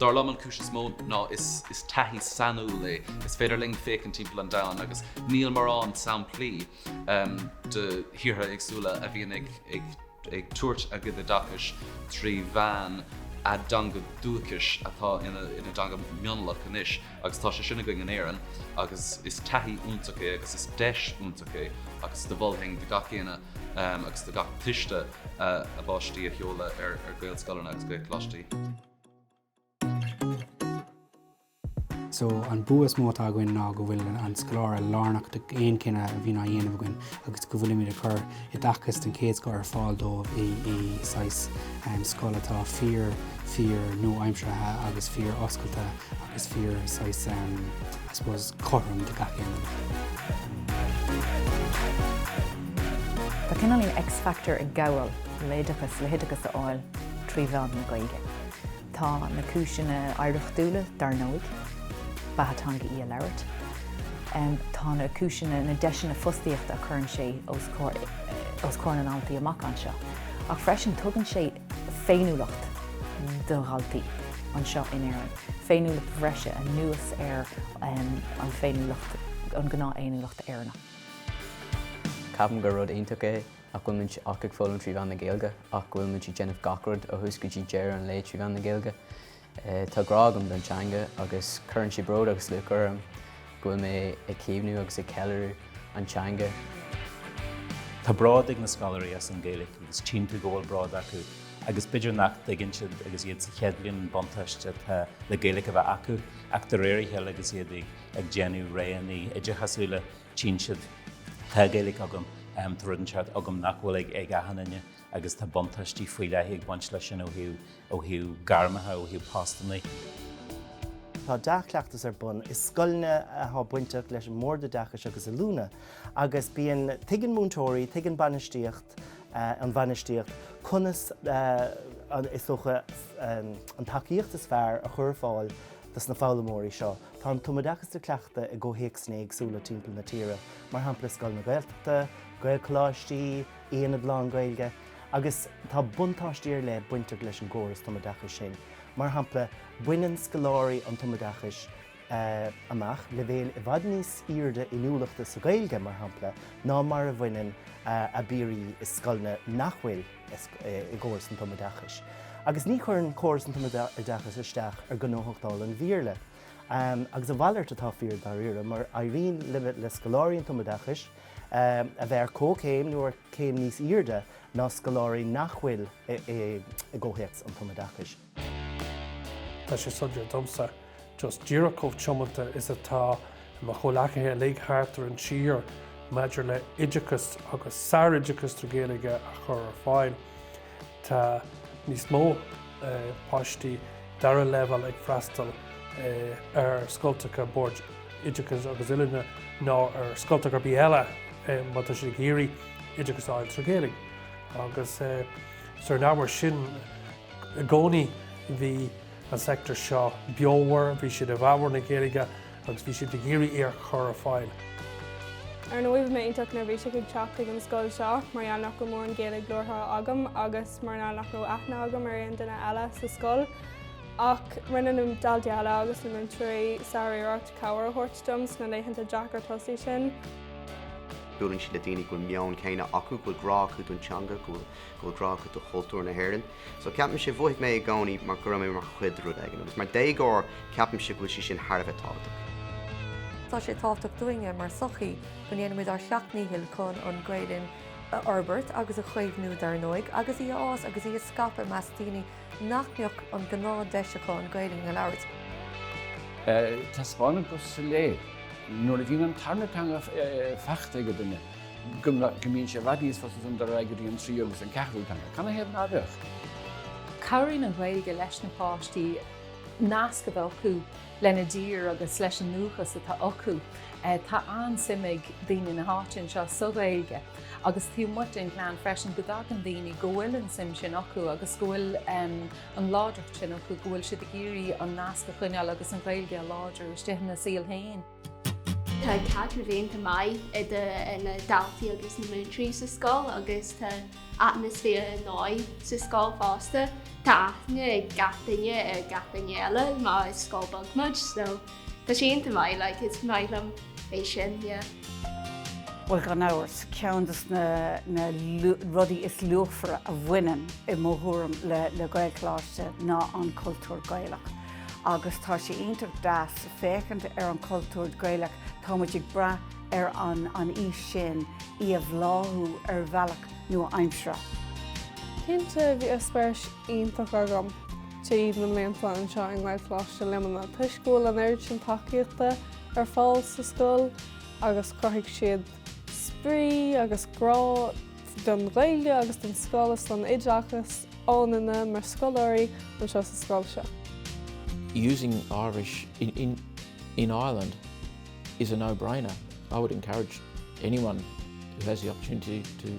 Dar liom, an cúis is mó ná is taithí sainiúil é. Is féidir linn féachaint timpeall an domhain agus níl morán samplaí de thíortha éagsúla a bhíonn ag tabhairt a gcuid oideachais trí mheán a dteanga dúchais atá ina dteanga mionlach anois agus tá sé sin againn in Éirinn agus is taithí iontach é agus is deis iontach é agus do mholfainn do gach éinne agus do gach tuismitheoir a bpáistí a sheoladh ar Gaelscoileanna agus Gaelcholáistí. So, an bua is mó atá againn ná go bhfuil an scoláire lárnach d'aon cinneadh a bhíonn á dhéanamh againn agus go bhfuilimid ag cur oideachas den chéad scoth ar fáil dóibh i saghas scoil atá fíor fíor nua-aimseartha agus fíor oscailte agus fíor saghas I suppose cothrom do gach éinne. Tá cineál X-factor ag gabháil. le hoideachas a fháil trí mheán na Gaeilge. Tá na cúiseanna oidhreachtúla, dar ndóigh, beatha teanga í a labhairt. Tá na cúiseanna, na deiseanna fostaíochta a chuireann sé os comhair na ndaltaí amach anseo. Ach freisin tugann sé féiniúlacht do dhaltaí anseo in Éirinn, féiniúlacht bhreise anuas ar an féiniúlacht, an gnáthfhéiniúlacht Éireannach. Ceapaim gur rud iontach é nach bhfuil muid ach ag foghlaim trí mheán na Gaeilge ach go bhfuil muid ag déanamh gach rud ó thús go dtí deireadh an lae trí mheán na Gaeilge. Tá grá agam don teanga agus cuireann sé bród agus lúcháir orm go bhfuil mé ag caomhnú agus ag ceiliúradh an teanga. Tá bród ag na scoláirí as an Ghaeilge agus tchíonn tú go bhfuil bród acu agus b'fhéidir nach dtuigeann siad agus iad sa chéad bhliain an buntáiste atá le Gaeilge a bheith acu ach de réir a chéile agus iad ag déanamh réanna oideachasúla, tchíonn siad. Tá Gaeilge agam, tá rud anseo agam nach bhfuil ag achan duine agus tá buntáistí faoi leith ag baint leis sin ó thaobh gairmeacha, ó thaobh postannaí. Tá dea-chleachtas ar bun i scoileanna atá bainteach leis an mBord Oideachais agus Oiliúna agus bíonn, tuigeann múinteoirí, tuigeann bainistíocht, an bhainistíocht conas is dócha an tacaíocht is fearr a chur ar fáil dos na foghlaimeoirí seo. Tá an tumoideachas á chleachtadh i gcomhthéacsanna éagsúla timpeall na tíre, mar shampla i scoileanna Gaeltachta, Gaelcholáistí, aonaid lán-Ghaeilge, agus tá buntáistí ar leith bainteach leis an gcóras tumoideachais sin. Mar shampla, baineann scoláirí an tumoideachais amach leibhéil i bhfad níos airde inniúlachta sa Ghaeilge, mar shampla, ná mar a bhaineann a bpiaraí i scoileanna nach bhfuil. i gcóras an tumoideachais. Agus ní chuireann córas an tumoideachais isteach ar ghnóthachtáil an Bhéarla. Agus a mhalairt atá fíor, dáiríre, mar éiríonn le scoláirí an tumoideachais a bheith ar comhchéim nó ar chéim níos airde ná scoláirí nach bhfuil i gcomhthéacs an tumoideachais. Tá sé suntasach domsa, just díreach chomh tiomanta is atá mo chomhleacaithe uilig thart ar an tír maidir le oideachas agus sároideachas trí Ghaeilge a chur ar fáil, tá níos mó páistí dara leibhéal ag freastal ar scoltacha Boird Oideachais agus Oiliúna ná ar scoltacha ar bith eile má tá siad ag iarraidh oideachas a fháil trí Ghaeilge agus is ar an ábhar sin, I gcónaí bhí an sector seo beomhar, bhí siad i bhfabhar na Gaeilge agus bhí siad ag iarraidh í a chur ar fáil. Ar ndóigh bhí mé iontach neirbhíseach ag teacht chuig an scoil seo mar gheall nach raibh mórán Gaeilge labhartha agam agus mar gheall nach raibh aithne agam ar aon duine eile sa scoil. Ach rinne na daltaí eile agus na múinteoirí sár-iarracht cabhair a thabhairt dom sna laethanta deacra tosaigh sin. Buaileann siad le daoine go bhfuil meon céanna acu, go bhfuil grá acu don teanga, go bhfuil go bhfuil grá acu do chultúr na hÉireann. So ceapaimse, mhothaigh mé i gcónaí mar go raibh mé mar chuid de rud éigin, agus mar déagóir ceapaimse go bhfuil sé sin thar a bheith tábhachtach. Tá sé tábhachtach dúinn mar sochaí go ndéanaimid ár seacht ndícheall chun an Ghaelainn a fhorbairt agus a chaomhnú dar ndóigh, agus í a fhás agus í a scaipeadh i measc daoine nach mbeadh an gnáth deis acu an Ghaelainn a labhairt. Taispeánann go soiléir nuair a bhíonn an tarna teanga faighte ag duine, go mbíonn sé i bhfad níos fusa ansan dul go dtí an tríú agus an ceathrú teanga. Cad ina thaobh ná beadh? Cabhraíonn an Ghaeilge leis na páistí nasc a bheith acu lena dtír agus leis an ndúchas atá acu. Eh, tá an-suim ag daoine na háite anseo sa Ghaeilge agus taobh amuigh den ghleann freisin go dtagann daoine go bhfuil an suim sin acu agus go bhfuil an láidreacht sin acu go bhfuil siad ag iarraidh an nasc a choinneáil agus an Ghaeilge láidir istigh ina saol féin. Tá caidreamh iontach maith idir na daltaí agus na múinteoirí sa scoil agus tá atmaisféar ar dóigh sa scoil fosta. Tá aithne ag gach duine ar gach duine eile mar is scoil beag muid so tá sé iontach maith like is maith liom é sin yeah. Bhuel gan amhras, ceann dos na na rudaí is luachmhaire a bhaineann i mo thuairim le le Gaelcholáiste ná an cultúr Gaelach agus tá sé iontach deas féachaint ar an chultúr Gaelach, tá muid ag brath ar an aois sin í a bhláthú ar bhealach nua-aimseartha. Cinnte, bhí eispéireas iontach agam thar na blianta anseo i nGaelcholáiste Luimnigh toisc go bhfuil an oiread sin tacaíochta ar fáil sa scoil agus chruthaigh siad spraoi agus grá don Ghaeilge agus don scoil is don oideachas ionainne mar scoláirí anseo sa scoil seo. Using Irish in Ireland is a no-brainer. I would encourage anyone who has the opportunity to